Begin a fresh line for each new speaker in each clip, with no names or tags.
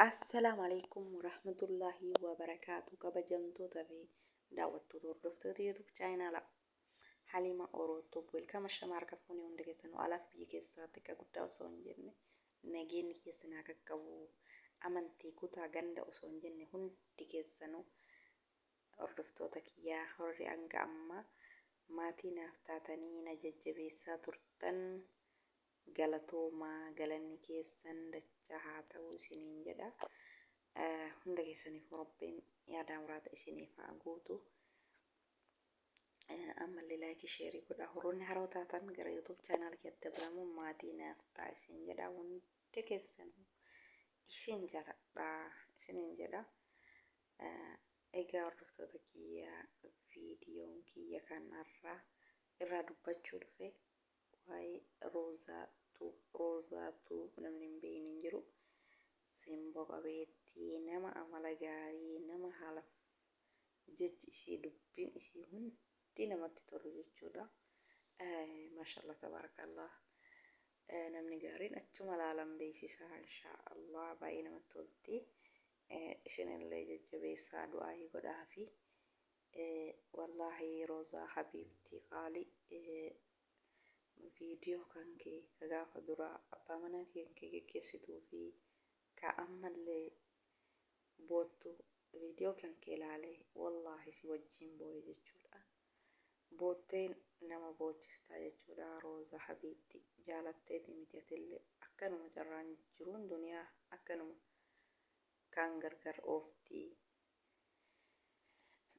Assalaamu alaikum warahmatullaahi wabarakaatu kabajamtoota fi daawwattoota hordoftoota YouTube chaayinaala Halima Oroottoo welkama shamaa harka fuunee hunda keessanuu alaaf biyya keessaatti akka guddaa osoo hin jenne nageenyi keessan haa qaqqabu amantii kutaa ganda osoo hin jenne hundi keessanuu hordoftoota kiyyaa horri hanga ammaa maatii naaf taatanii na jajjabeessaa turtan Galatoomaa galanni keessan dachaa haa ta'u isiniin jedha. Hunda keessaniifuu Rabbiin yaadaa muraada isiniif haa guutu. Ammallee laayikii sheerii godhaa. Horoonni haroo taatan gara YouTube chaanaal keetti dabalamuun maatii naaf ta'a isin jedha. Hunda keessanuu isin jaladha isiniin jedha. Egaa hordoftoota kiyya viidiyoon kiyya kanarraa irraa dubbachuu dhufe. Waa'ee Roozaa Tuub Roozaa Tuub namni hin beekne hin jiru. Simbo qabeettii, nama amala gaarii, nama haalaf jechi ishii dubbiin ishii hundi namatti tolu jechuudha. Maashaallah tabaarakaallah namni gaariin achuma laalan beeksisaa inshaallah baay'ee namatti tolti. Isinillee jajjabeessaa du'aa'ii godhaafi Wallaahi Rozaa habiibtii qaali video kan kee ka gaafa duraa abbaa manaa kee kan kee geggeessituu fi ka ammallee boottu video kan kee laale wallaahi si wajjiin booye jechuudha bootteen nama boochistaa jechuudha Rozaa habiibtii jaalatteeti miti atillee akkanuma carraan jiruun duniyaa akkanuma Kaan gargar oofti,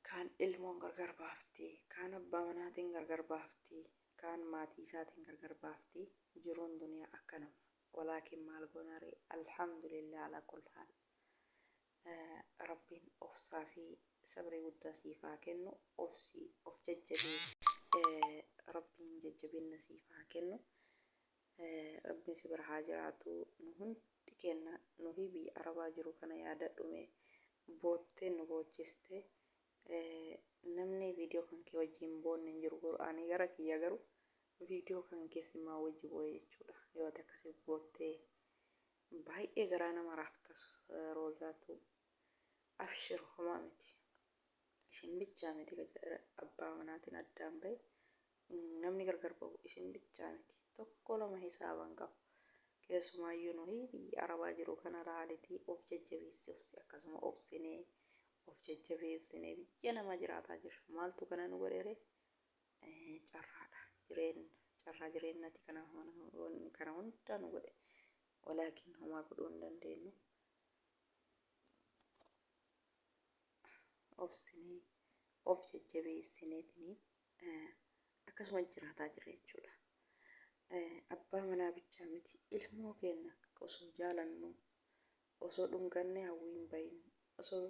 kaan ilmoon gargar baafti, kaan abbaa manaatiin gargar baafti, kaan maatii isaatiin gargar baafti. Jiruun duniyaa akkanuma. Walaakin maal goona ree? Alhamdulillah alaa kull haal. Rabbiin obsaa fi sabrii guddaa siif haa kennu. Obsi, of jajjabeessi. Rabbiin jajjabinna siif haa kennu. Rabbiin si bira haa jiraatu nu hundi keenna nuhii biyya arabaa jiru kana yaadadhu mee boottee nu boochiste namni video kan kee wajji hin boonne hin jiru garuu ani gara kiyya garuu video kan kee simaa wajji booye jechuudha yoo ati akkasi boottee baay'ee garaa nama raaftas roozaatu abshir homaa miti isin bichaa miti abbaa manaatiin addaan ba'e Namni gargar bahu isin bichaa miti. Tokko lama hisaaba hin qabu. Keessumaayyuu nuhi biyya Arabaa jiru kana laalitii of jajjabeessi obsi akkasuma obsinee of jajjabeessinee biyya namaa jiraataa jirra. Maaltu kana nu godhe ree? Carraadha. Jireenna. Carraa jireennati kana kana hunda nu godhe. Walaakin homaa godhuu hin dandeenyu. Obsinee of jajjabeessineetini akkasuma jiraataa jirra jechuudha. Abbaa manaa bichaa miti ilmoo keenya osoo jaalannuu osoo dhungannee hawwii hin bahin osoo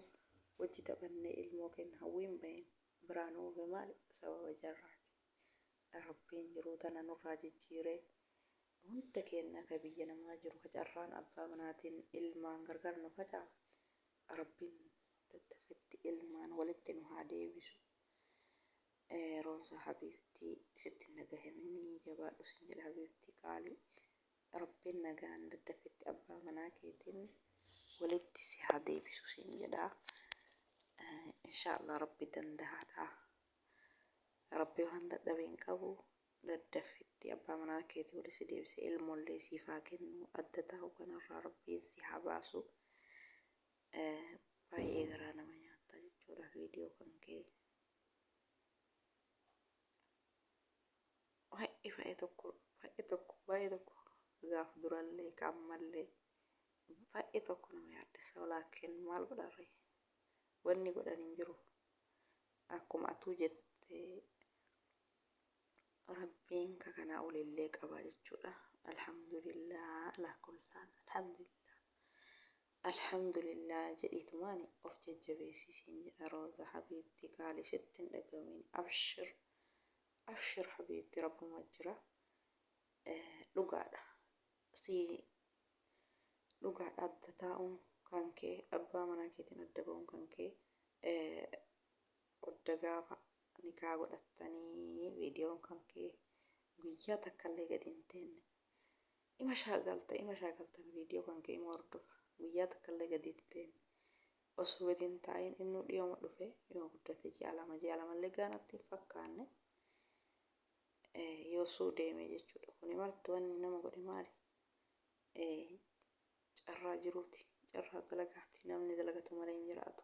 wajji taphannee ilmoo keenya hawwii hin bahin biraa nu ofe maali sababa jarraati. Rabbiin jiruu tana nurraa jijjiiree hunda keenya ka biyya namaa jiru ka carraan abbaa manaatiin ilmaan gargar nu facaasu Rabbiin daddafetti ilmaan walitti nu haa deebisu Roonsa habiibtii sitti hin dhagahaminii jabaadhu sin jedha habiibtii qaalii rabbiin nagaan daddafetti abbaa manaa keetiin walitti si haa deebisu sin jedha inshaallah rabbi dandahaadha rabbi waan dadhabe hin qabu daddafetti abbaa manaa keetii walitti si deebise ilmoollee siif haa kennu adda taa'u kanarraa rabbiin si haa baasu baay'ee garaa nama nyaatta jechuudha viidiyoo kan kee baay'ee baay'ee tokko baay'ee tokko baay'ee tokko gaaf durallee qaammallee baay'ee tokko nama yaaddessa walaakin maal godharre wanni godhan hin jiru akkuma atuu jette rabbiin ka kanaa olillee qaba jechuudha alhamdulillah alaakullaan alhamdulillah Alhamdulillah jedhiitumaani of jajjabeessi siin jedha Rooza habiibti qaali sitti hin dhagahamiin abshir abshir habiibti rabbuma jira dhugaadha sii dhugaadha adda taa'uun kankee abbaa manaa keetiin adda ba'uun kankee odda gaafa nikaa godhattanii viidiyoon kankee guyyaa takkallee gadi hin teenne Ima shaakalta ima shaakalta video kan kee ima hordofa guyyaa takka illee gadi hin teene osoo gadi hin taa'iin innuu dhiyooma dhufe yoo guddate ji'a lama ji'a lama illee gaa natti hin fakkaanne yoosuu deeme jechuudha kuni marti wanni nama godhe maali carraa jiruuti carraa dalagaati namni dalagatu malee hin jiraatu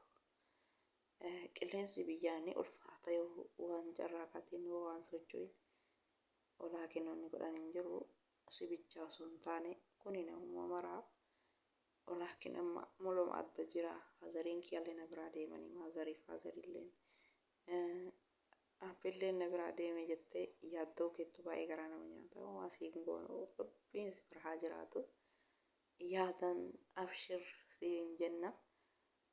qilleensi biyyaa ni ulfaata yoo waan carraa kaatiin yoo waan socho'in olaa kennoonni godhan hin jiru Arsii bichaa osoo hin taane kuni namuma maraa walaakin amma muluma adda jira hazariin kiyallee na biraa deemanii maazarii faazarilleen abbilleen na biraa deeme jettee yaaddoo keettu baay'ee garaa nama nyaata waa sii hin goonu rabbiin si bira haa jiraatu yaadan abshir siin jenna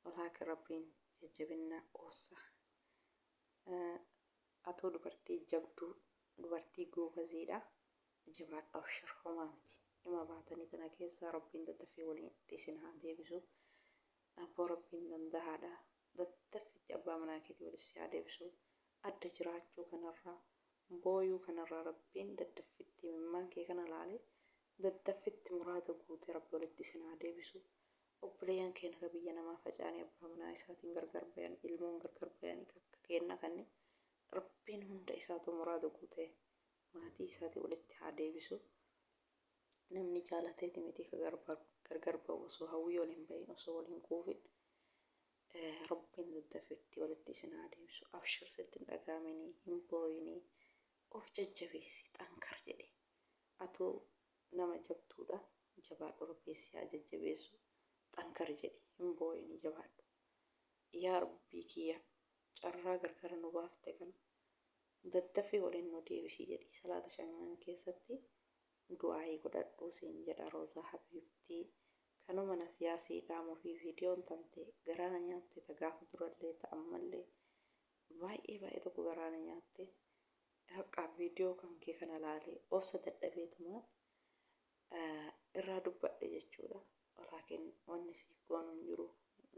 walaakin rabbiin jajjabinna obsa Atoo dubartii jabduu dubartii goobaziidha jabaadhu abshir homaa miti dhima baatanii tana keessaa rabbiin daddaffi walitti isin haa deebisu abboo rabbiin dandahaadha daddaffitti abbaa manaa keetii walitti si haa deebisu adda jiraachuu kanarraa booyuu kanarraa rabbiin daddaffitti imimmaan kee kana laalee daddaffitti muraada guute rabbi walitti isin haa deebisu Obboleeyyan keenna ka biyya namaa faca'anii abbaa manaa isaatiin gargar bayan, ilmoon gargar bayanii ka akka keennaa kanni Rabbiin hunda isaatuu muraada guutee maatii isaatii walitti haa deebisu. Namni jaalateeti mitii ka gargar bahu osoo hawwii ol hin bayin, osoo wal hin quufin. Rabbiin daddafee itti walitti isin haa deebisu. Abshir sitti hin dhaga'aminii, hin booyinii. Of jajjabeessi xankar jedhe. Atuu nama jabduudha jabaadhu rabbii sihaa jajjabeessu xankar jedhi hin booyini jabaadhu yaa rabbii kiyya carraa gargara nu baafte kana daddafii waliin nu deebisi jedhi salaata shanan keessatti du'aa'ii godhadhu siin jedha roozaa habiibtii kanuma nasiyaa sii dhaamufii viidiyoon tante garaa na nyaatte ta gaafa durallee ta ammallee Baay'ee baay'ee tokko garaa na nyaatte haqqaa viidiyoo kan kee kana laalee obsa dadhabeetumaan irraa dubbadhe jechuudha. Laakiin wanni siif goonu hin jiru.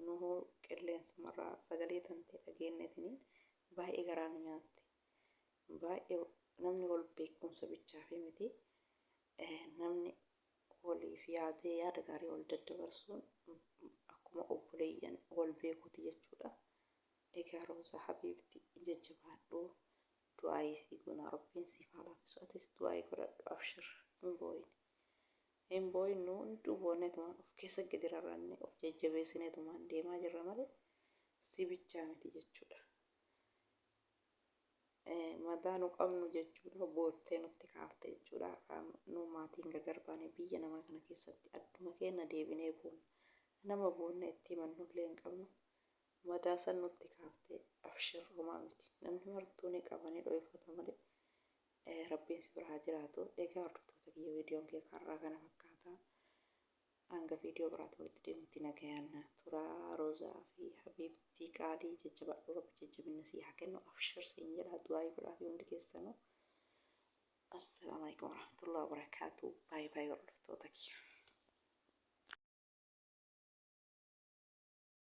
Nuhuu qilleensumarraa sagalee tantee dhageenyetiniin baay'ee garaa nu nyaatte. Baay'ee namni wal beekumsa bichaafii miti. Namni waliif yaadee yaada gaarii wal daddabarsuun akkuma obboleeyyan wal beekuuti jechuudha. Egaa Roza habibti jajjabaadhu du'aayii sii goona rabbiin siif haa laafisu atis du'aayii godhadhu abshir hin booyin hin booyin nu hunduu booneetumaan of keessa gadi rarrannee of jajjabeessineetumaan deemaa jirra malee si bichaa miti jechuudha madaa nu qabnu jechuudha boottee nutti kaafte jechuudha har'aan nu maatiin gagar baane biyya namaa kana keessatti adduma keenya deebinee boonna nama boonna itti himannullee hin qabnu Madaa san nutti kaaftee abshir homaa miti namni martuu ni qaba ni dhoyfata malee rabbiin si bira haa jiraatu egaa hordoftoota kiyya viidiyoon kee karraa kana fakkaata hanga viidiyoo biraatti walitti deemutti nagayaan na turaa roozaa fi habiibtii qaalii jajjabaadhu rabbi jajjabinna sii haa kennu abshir siin jedha du'aayii godhaa fi hundi keessanuu assalaamu alaikum warahmatullahi wabarakaatu baay'ee baay'ee hordoftoota kiyya